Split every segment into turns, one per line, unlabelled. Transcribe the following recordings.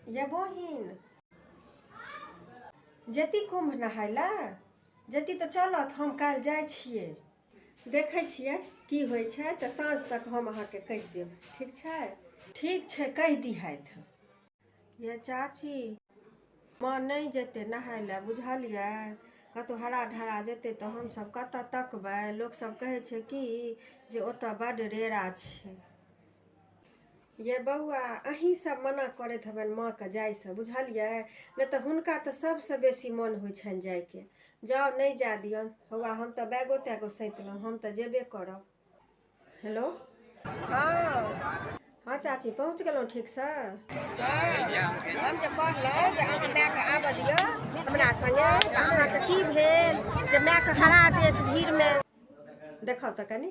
ये बहिन जति कुम्भ नहाय लए जति तऽ चलत हम काल्हि जाइ छियै देखै छियै की होइ छै तऽ साँझ तक हम अहाँके कहि देब ठीक छै ठीक छै कहि दिहथि ये चाची माँ नहि जेतै नहाय लए बुझलियै कतहु हरा ढरा जेतै तऽ हमसभ कतऽ तकबै लोकसभ कहै छै कि जे ओतऽ बड्ड रेरा छै यै बौआ अहीं सब मना करैत हेबनि माँ के जाय से बुझलियै नहि तऽ हुनका तऽ सबसँ बेसी मन होइ छनि जाय के जाउ नहि जाय दियन हौआ हम तऽ बैगो तैगो सैतलहुँ हम तऽ जेबे करब हेलो हँ हँ चाची पहुँच गेलहुँ ठीकसँ हम जे कहलहुँ जे अहाँ मायके आबऽ दिअ हमरा सङ्गे तऽ अहाँके की भेल जे मायके हरा देत भीड़मे देखऽ तऽ कनी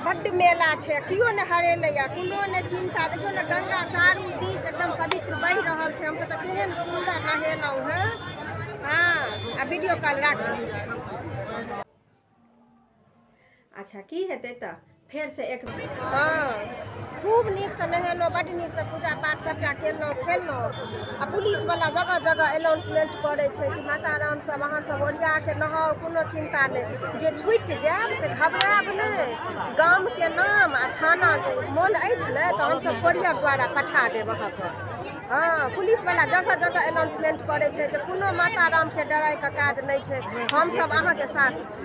बड्ड मेला छै केओ नहि हरेलैया कोनो नहि चिन्ता देखियौ ने गंगा चारू दिस एकदम पवित्र बहि रहल छै हमसभ तऽ केहन सुन्दर नहेलहुँ हेँ हँ आ वीडियो कॉल राखू अच्छा की हेतै तऽ फेरसँ एक हँ खूब नीकसँ नहेलहुँ बड्ड नीकसँ पूजा पाठ सभटा केलहुँ खेलहुँ आ पुलिसवला जगह जगह अनाउंसमेंट करै छै कि माता राम सभ अहाँ सभ ओरिया के नहाउ कोनो चिन्ता नहि जे छुटि जायब से घबरायब नहि गामके नाम आ थाना मोन अछि ने तऽ हमसभ कोरियर द्वारा पठा देब अहाँके हँ पुलिसवला जगह जगह अनाउंसमेंट करै छै जे कोनो माता रामके डराइके काज नहि छै हमसभ अहाँके साथ छी